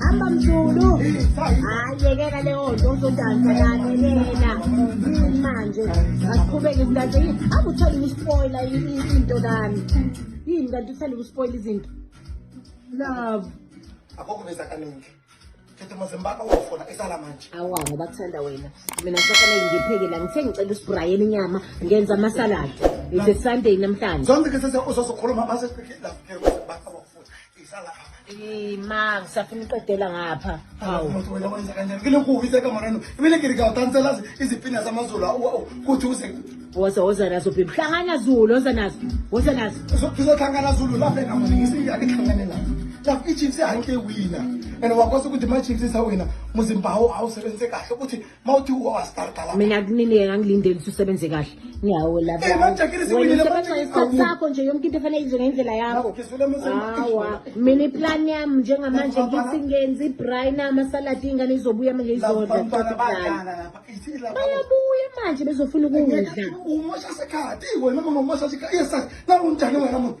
Hamba mzulu. Hayi yekela leyo nto uzodansa lalela. Manje asiqhubeke izinto yini? Akutholi uspoiler into kami. Yini kanti uthanda ukuspoil izinto? Love. Akukho besa kaningi. Thethe mazembaka ufona esala manje. Awa ngoba kuthanda wena. Mina ngisafanele ngipheke la ngithe ngicela uSbrian inyama ngenza ama salad. It's a Sunday namhlanje. Zonke ke sese uzozokhuluma mase siphike la. ma ngisafuna uqedela ngapha woza woza nazo bhebhi hlangana zulu woza nazo woza nazo sizohlangana zulu lapha engamuningisiyakhlangane lapho lapho ichiefs ihanke wina and wakwazi ukuthi ma-chiefs isawina muzimbhawo awusebenzise kahle ukuthi mawuthi uwastartala mina kunini ngangilindele ukuthi usebenze kahle ngiyawo lapho eh manjakile siwinile manje isikhathi sakho nje yonke into efanele izwe ngendlela yakho hawa mina iplan yami njengamanje ngithi ngenzi brain ama salad ingane izobuya manje izodla bayabuya manje bezofuna ukudla umosha sekhathi wena mama umosha sikhathi yes nakunjani wena muntu